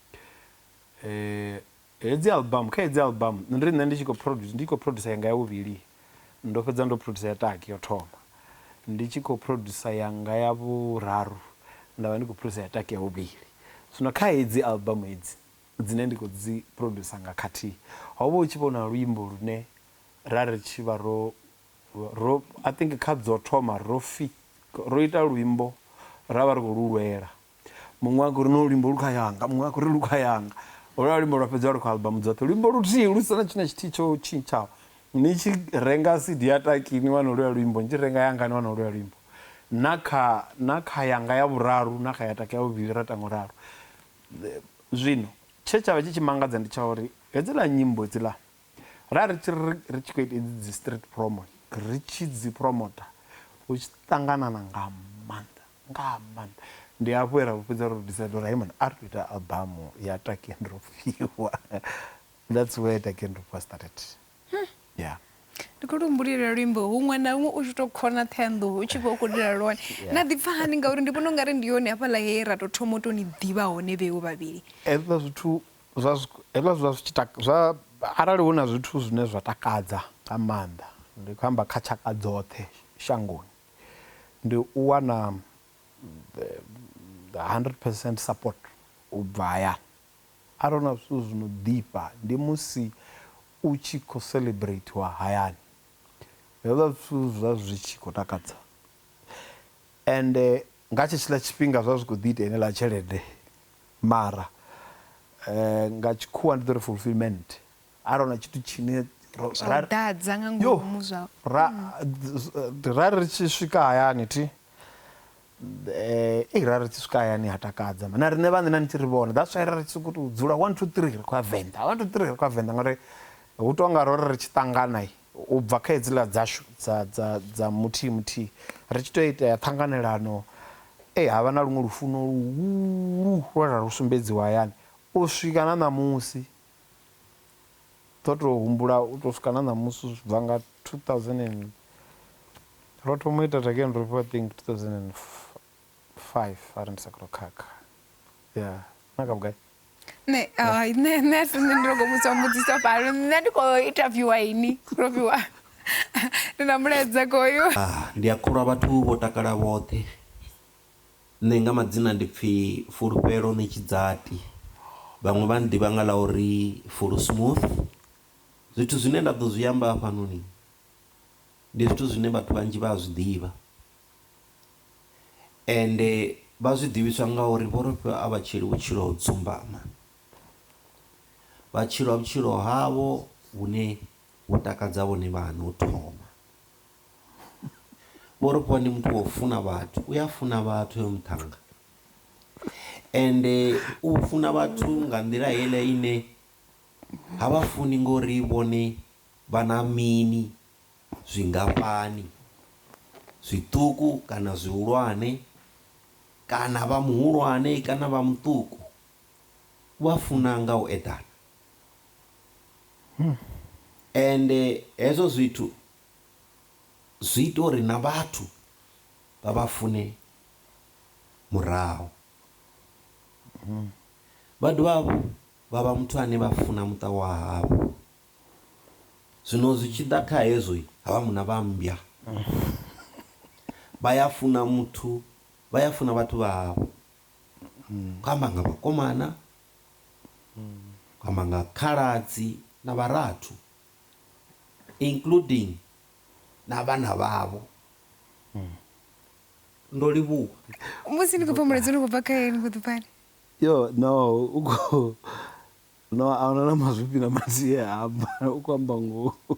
hedzi album kha hedzi album nṋe ndi nṋe ndi tshi khou produce ndi khou producer yanga ya vhuvhili ndo fhedza ndo producer ya taki yo thoma ndi tshi khou producer yanga ya vhuraru nda vha ndi khou producer ya taki ya vhuvhili zwino kha hedzi album hedzi dzine ndi khou dzi producer nga khathihi ho vha hu tshi vho na luimbo lune ra ri tshi vha ro ro I think kha dzo thoma ro fi ro ita luimbo ra vha ri khou lu lwela Muṅwe a khou ri, No luimbo lu kha yanga. Muṅwe a khou ri, Lu kha yanga. Holwuḽa luimbo lwa fhedziwa lu kha album dzoṱhe. Luimbo luthihi lu si na tshithu na tshithihi tsho tshintshaho. Ni tshi renga CD ya Taki ni wana holwuḽa luimbo, ni tshi renga yanga ni wana holwuḽa luimbo. Na kha, na kha yanga ya vhuraru na kha ya Taki ya vhuvhili ra ita nga u ralo. Zwino, tshe tsha vha tshi tshi mangadza ndi tsha uri hedziḽa nyimbo hedziḽa, ra ri tshi ri, ri tshi khou ita hedzi dzi street promo, ri tshi dzi promoter, hu tshi ṱanganana nga maanḓa. Nga maanḓa. Ndi hafho he ra vhu fhedza ro decide uri hai mani a ri to ita albamu ya Takendro Fhiwa. That's where Takendro Fhiwa started. Yeah. Ndi khou lu humbulela luimbo huṅwe na huṅwe u tshi tou khona Ṱhohoyanḓou u tshi vha u khou lila lwone. Na ḓipfa hani ngauri ndi vhona ungari ndi hone hafhaḽa he ra tou thoma u tou ni ḓivha hone vheiwe vhavhili? Hezwiḽa zwithu zwa hezwiḽa zwa zwi tshi taka zwa arali hu na zwithu zwine zwa takadza nga maanḓa ndi khou amba kha tshaka dzoṱhe shangoni ndi u wana hundred percent support u bva hayani. Arali hu na zwithu zwi no ḓifha ndi musi u tshi khou celebratiwa hayani, hezwiḽa zwithu zwi vha zwi tshi khou takadza ende nga tshetshiḽa tshifhinga zwi vha zwi khou ḓi ita heneiḽa tshelede mara nga tshikhuwa ndi ḓo ri fulfilment. a ro na tshithu tshine ḓadza nga ngomu zwa ra ri tshi swika hayani thi eh i ra ri tshi swika hayani ha takadza na riṋe vhaṋe na nitshi ri vhona that's why ra ri tshi sokou tou dzula 1 2 3 ri khou ya venḓa 1 2 3 ri khou ya venḓa ngauri hu tou nga ro ri ri tshi ṱangana u bva kha hedziḽa dzashu dza dza dza muthihi muthihi ri tshi tou itea ṱhanganelano e ha vha na luṅwe lufuno luhulu lwe ra lu sumbedziwa hayani u swika na ṋamusi ḓo tou humbula u tou swika na ṋamusi zwi bva nga 2000 and ro thoma u ita Tageni Rofhiwa I think 2005 arali ndi sa khou khakha ya na kha vhugai nṋe hai nṋe nṋe a si nṋe ndi longo vhudzwa mbudziso fhano nṋe ndi khou interviewa ini Rofhiwa ndi na mulaedza koyo ah, ndi a kholwa vhathu vho takala vhoṱhe Nṋe nga madzina ndi pfi Fulufhelo Ṋetshidzati, vhaṅwe vha nnḓivha nga ḽa uri Fulu Smooth. Zwithu zwine nda ḓo zwi amba hafhanoni, ndi zwithu zwine vhathu vhanzhi vha a zwiḓivha, ende vha zwi ḓivhiswa nga uri vho ri fha a vha tshili vhutshilo ho dzumbama. Vha tshila vhutshilo havho vhune vhu takadza vhone vhaṋe u thoma. Vho Rofhiwa ndi muthu wa u funa vhathu, u a funa vhathu hoyo muṱhannga ende u funa vhathu nga nḓila heiḽa ine ha vha funi ngori vhone vha na mini, zwingafhani, zwiṱuku kana zwihulwane kana vha muhulwane kana vha muṱuku. U vha funa nga u eḓana. Ende hezwo zwithu zwi ita uri na vhathu vha vha fune murahu. Vha dovha hafhu vha vha muthu ane vha funa muṱa wa havho. Zwino zwi tshi ḓa kha hezwo, ha vha munna vha mmbwa. Vha ya funa muthu, vha ya funa vhathu vha havho. Khou amba nga vhakomana, amba nga khaladzi na vharathu including na vhana vhavho. Ndo livhuwa. Musi ni khou pfa mulaedza u no khou bva kha Ene, ni khou ḓi pfani? Yoh, no, u khou, no, a huna na mazwifhi na madzie a amba, u khou amba ngoho.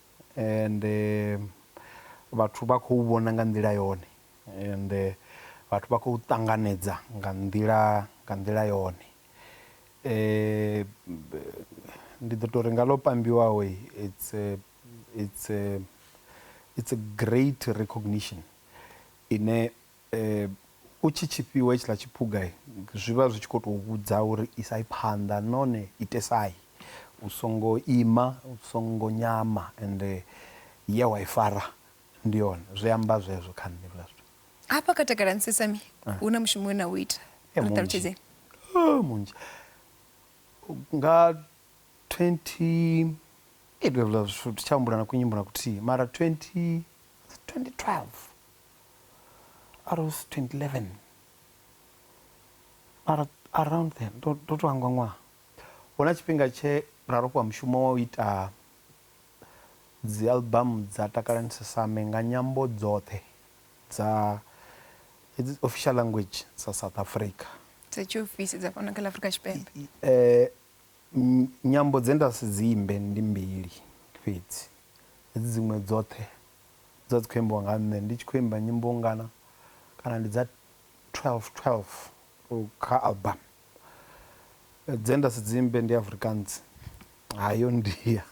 and vhathu vha khou vhona nga nḓila yone and vhathu vha khou ṱanganedza nga nḓila nga nḓila yone ndi ḓo tori nga ḽo pambiwaho it's a, it's a, it's a great recognition ine U tshi tshi fhiwa hetshiḽa tshiphuga, zwi vha zwi tshi khou tou vhudza uri isai phanḓa nahone itesai. U songo ima, u songo nyama ende ye wa i fara ndi yone. Zwi amba zwezwo kha nṋe hezwiḽa zwithu. Hafha kha Takalani Sesame hu na mushumo we na u ita, ri ṱalutshedzeni. Munzhi, munzhi. Nga twenty, hezwiḽa zwithu thi tsha humbula na kunyimbo na kuthihi mara twenty, was it twenty twelve? Rs 2011 Ar Around then ndo ndo to hangwa ṅwaha hu na tshifhinga tshe ra rofhiwa mushumo wa u ita dzialbamu dza Takalani Sesame nga nyambo dzoṱhe dza hedzi official language dza South Africa. dza tshiofisi dza fhano kha ḽa Afrika Tshipembe. Eh, ny- nyambo dze nda si dzi imbe ndi mbili fhedzi, hedzi dziṅwe dzoṱhe Dza dzi khou imbiwa nga nṋe ndi tshi khou imba nyimbo ngana kana ndi dza 12 12 kha album dze nda si dzi imbe ndi Afrikaans ha yo ndia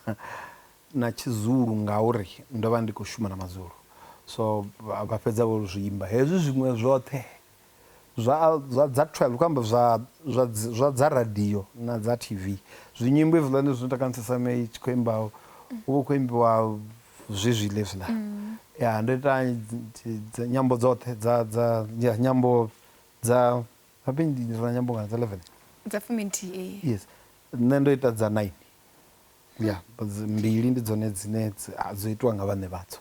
na tshi zulu ngauri ndo vha ndi kho shuma na mazulu so vha fhedza vho zwi imba hezwi zwiṅwe zwoṱhe zwa zwa dza 12 khou amba zwa zwa zwa dza radio na dza TV zwi nyimbo hezwiḽani zwi ita khamusi sa me tshi khou imba hu vha hu khou imbiwa zwezwiḽa hezwiḽa ya ndo ita dzi nyambo dzoṱhe dza dza nyambo dza habe ndi na nyambo ngana dza 11 dza fumi nthihi yes nṋe ndo ita dza 9 ya mbili ndi dzone dzine dzo itiwa nga vhaṋe vhadzo.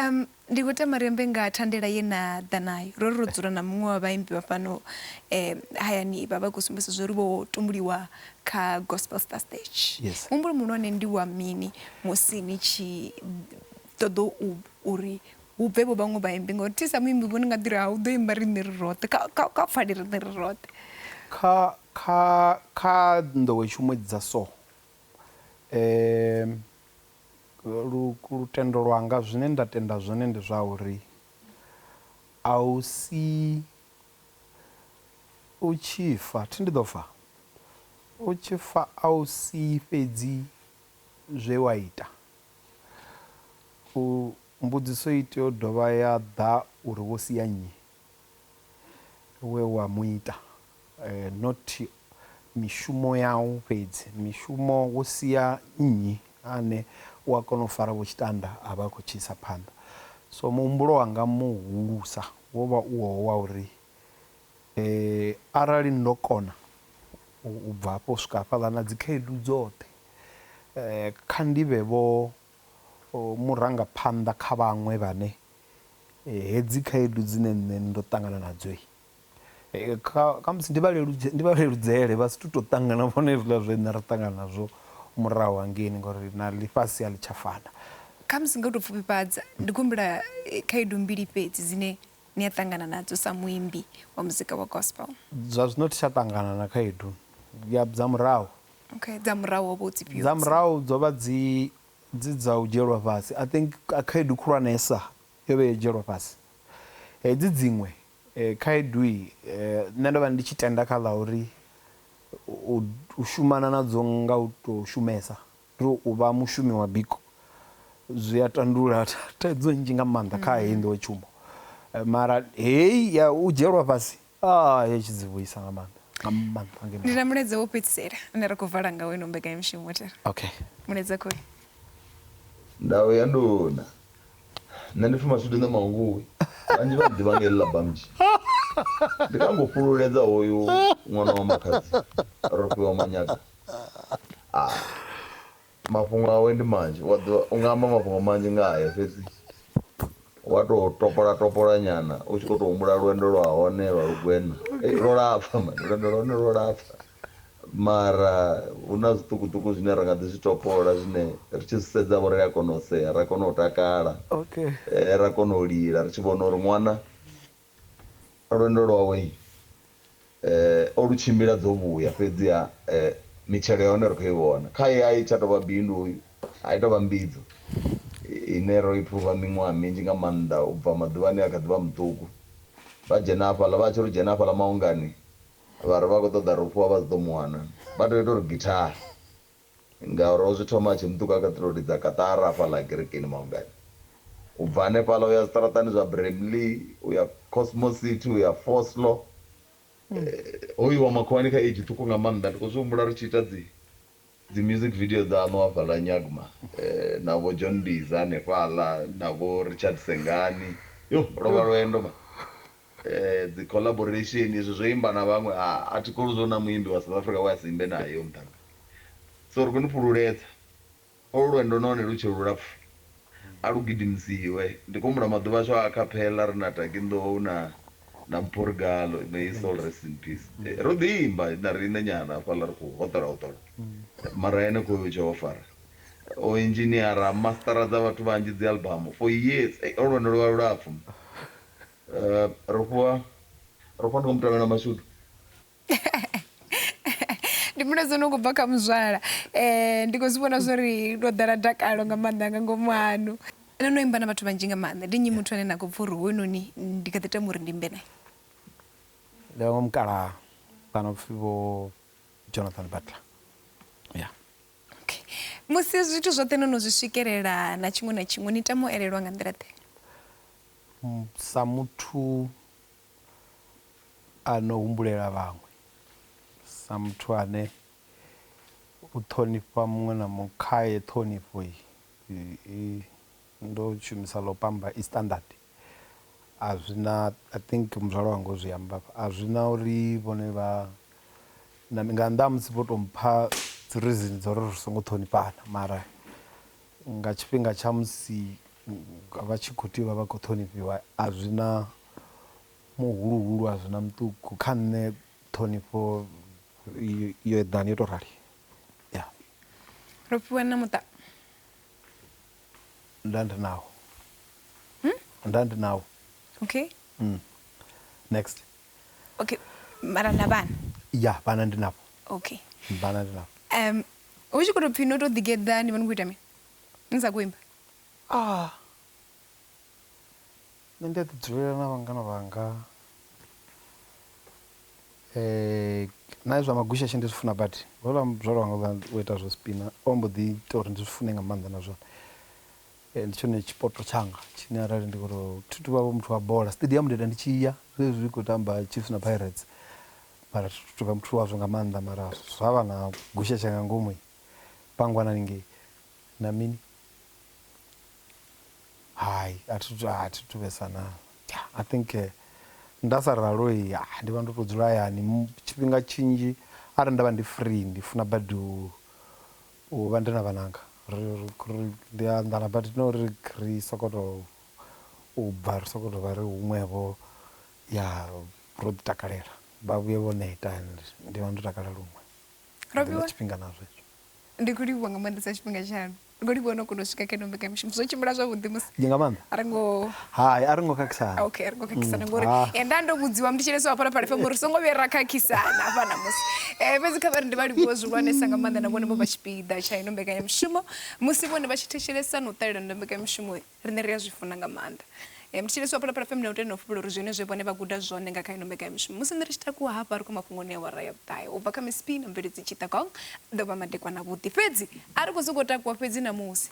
Um, ndi khou tama ri ambe nga thandela ye na ḓa nayo. Ro ri ro dzula na muṅwe wa vhaimbi vha fhano eh, hayani vha vha khou sumbedzisa zwo ri vho tumbuliwa kha Gospel Star Stage. Yes. Muhumbulo muhulwane ndi wa mini musi ni tshi ṱoḓa u uri hu bve vho vhaṅwe vhaimbi ngauri thi sa muimbi vho ni nga ḓi ri ha u ḓo imba riṋe ri roṱhe kha kha kha pfale riṋe ri roṱhe. kha kha kha nḓowetshumo dza so um Lutendo lwanga, zwine nda tenda zwone ndi zwa uri a u si u tshi fa, thi ndi ḓo fa? U tshi fa a u si fhedzi zwe wa ita. U, mbudziso i tea u dovha ya ḓa uri wo sia nnyi? we wa mu ita, not mishumo yau fhedzi, mishumo wo sia nnyi ane u a kona u fara vho tshitanda a vha a khou tshi isa phanḓa. So muhumbulo wanga muhulusa wo vha u wowo wa uri arali ndo kona u bva hafho u swika hafhaḽa na dzikhaedu dzoṱhe kha ndi vhe vho O murangaphanḓa kha vhaṅwe vhane hedzi khaedu dzine nṋe ndo ṱangana nadzo kha khamusi ndi vha leludze ndi vha leludzele vha si tu to ṱangana vhone hezwiḽa zwe nṋe ra ṱangana nazwo murahu hangeini ngori na ḽifhasi a ḽi tsha fana. Khamusi nga u to pfufhifhadza ndi khou humbula khaedu mbili fhedzi dzine ni a ṱangana nadzo sa muimbi wa muzika wa gospel? Zwa zwino thi tsha ṱangana na khaedu ya dza murahu. Okay, dza murahu ho vha hu dzi fhio? Dza murahu dzo vha dzi dzi dza u dzhielwa fhasi. I think khaedu khulwanesa yo vha i ya u dzhielwa fhasi. Hedzi dziṅwe khaedu nṋe ndo vha ndi tshi tenda kha ḽa uri u shumana nadzo nga u tou shumesa Ri u vha mushumi wa biko zwi a tandulula thaidzo nnzhi nga maanḓa kha heyi nḓowetshumo mara heyi ya u dzhielwa fhasi a yo tshi dzi vhuisa nga maanḓa nga maanḓa nga Ndi na mulaedza wo fhedzisela une ra khou vala ngawo ino mbekanyamushumo thera. okay Mulaedza khoyu. Ndau ya nduna. Nṋe ndi pfi Mashudu Nṋe Mannguvhi. Vhanzhi vha nḓivha nga heḽi ḽa Bamji. Ndi kha nga u fhululedza hoyu ṅwana wa makhadzi Rofhiwa Manyaga. Ah, mafhungo awe ndi manzhi wa ḓivha u nga amba mafhungo manzhi nga hae fhedzi wa to topola topola nyana u tshi kho to humbula lwendo lwa hone lwa lugwena Ei, lwo lapfa mani lwendo lwa hone lwo lapfa mara hu na zwiṱukuṱuku zwine ra nga ḓi zwi topola zwine ri tshi zwi sedza vho ri a kona u sea ra kona u takala okay eh, ra kona u lila ri tshi vhona uri ṅwana Lwendo lwawe o lu tshimbila dzo vhuya, fhedziha mitshelo ya hone ri khou i vhona. Khae a i tsha tou vha bindu, a i tou vha mbidzo ine ro i phuva miṅwaha minzhi nga maanḓa u bva maḓuvhani e a kha ḓi vha muṱuku. Vha dzhena hafhaḽa, vha tshi ri u dzhena hafhaḽa maungani vha ri vha khou ṱoḓa ri u fhiwa vha si ḓo mu wana, vha tou ita uri githaha. Ngauri o zwi thoma a tshi muṱuka kha ṱirothi dza Qatar hafha ḽa Kerekeni Maungani. U bva hanefhaḽa u ya zwiṱaraṱani zwa Bramley, u ya Cosmos City, u ya Vosloo. Ho iwa makhuwani kha age ṱhukhu nga maanḓa. Ndi khou zwi humbula ri tshi ita dzi dzi music video dzaṋu hafhaḽa Nyagma na vho John Mbiza hanefhaḽa na vho Richard Sengani. Yoh, lwo vha lwendo man. Dzi collaboration izwi zwo imba na vhaṅwe a a thi kholwi zwa uri na muimbi wa South Africa we a si imbe nae hoyo muṱhannga so ri khou ni fhululedza olu lwendo nahone lu tshe lulapfu a lu gidimisiwe ndi khou humbula maḓuvha ashu a acapella ri na Taki Nḓou na na Mpho Rigalo may his soul rest in peace ro ḓi imba na riṋe nyana hafhaḽa ri khou hoṱola hoṱola mara henefho hoyo tshe o fara o engineer a master dza vhathu vhanzhi dzi album for years ey olu lwendo lwo vha lulapfu. ro fhiwa ro fhiwa ndi nga mutangana mashudu ndi muno dzo no khou bva kha muzwala um ndi khou zwi vhona zwo ri ndo ḓala dakalo nga maanḓa nga ngomu hanu no no imba na vhathu vhanzhi nga maanḓa ndi nnyi muthu ane na khou pfa uri hoyunoni ndi kha ḓi tama uri ndi imbe naye ndi vhaṅwe mukala kana upfhi vho jonathan butler ya okay musi zwithu zwoṱhe no no zwi swikelela na tshiṅwe na tshiṅwe ni tama u elelwa nga nḓila ḓe Sa muthu a no humbulela vhaṅwe, sa muthu ane u ṱhonifha muṅwe na muṅwe khaye ṱhonifho i ndo shumisa ḽo pamba i standard a zwi na I think muzwala wanga o zwi amba hafha a zwi na uri vhone vha na nga nnḓa ha musi vho tou mpha dzi reason dza uri ri songo ṱhonifhana mara. Nga tshifhinga tsha musi vha tshi khou tea u vha vha khou ṱhonifhiwa, a zwi na muhuluhulu, a zwi na muṱuku. Kha nṋe ṱhonifho yo eḓana, yo tou rali. Ya. Ro fhiwa na muṱa. Nda ndi nawo. Nda ndi nawo. Okay. Next. Okay mara na vhana? Ya vhana ndi navho. Okay. Vhana ndi navho. Um hu tshi kho to pfhi no to ḓi geḓa ni vha ni kho ita mini ni sa kho imba? Ah nṋe ndi a ḓi dzulela na vhangana vhanga na zwa magushashe ndi zwi funa badi houḽa muzwala wanga u ita zwo spina o mbo ḓi ita uri ndi zwi fune nga maanḓa na zwone Ndi tshone tshipoto tshanga tshine arali ndi khoto thi tuvha vho muthu wa bola stadium ndi ita ndi tshi ya zwezwi zwi kho tamba chiefs na pirates mara thi thu tuvha muthu wazwo nga maanḓa mara zwa vha na gusha tsha nga ngomu pangwana haningei na mini hai a thi thu a thi thu vhesa na i think nda sa ralo ndi vha ndo to dzula hayani tshifhinga tshinzhi arali nda vha ndi free ndi funa badi u U vha ndi na vhananga ri ri ndi a anḓana but not uri ri soko to u bva ri soko to vha ri huṅwe vho ya ro ḓi takalela vha vhuye vho neta and ndi vha ndo takala luṅwe ndi na tshifhinga na zwo hezwo. Ndi kho livhuwa nga maanḓesa tshifhinga tshaṋu ri kho livhuwa no kona u swika kha ino mbekamishumo zwo tshimbila zwavhuḓi musi nga maanḓa ri ngo hai a ri ngo khakhisana ok ri ngo khakhisana ngori Ah. eh, nda ndo vhudziwa ndi tshileso hafha na phala fm uri songo vhuya ra khakhisana hafha namusi um fhedzi kha vhari ndi vha livhuwe zwihulwanesa nga maanḓa na vhone vho vha tshipiḓa tsha ino mbekanyamushumo musi vhone vha tshi thetshelesa na u ṱalela ndo mbekanyamushumo riṋe ri a zwi funa nga maanḓa um ndi tshileso hafha na phala fm na u tenda u fhulula uri zwine zwe vhone vha guda zwone nga kha ino mbekanyamushumo musi nṋe ri tshi takuwa hafha ri khou mafhungoni ya wara ya vhuṱahe u bva kha misipi na mveledzi tshitagong ḓo vha madekwana vhuḓi fhedzi a ri khou sokou takuwa fhedzi namusi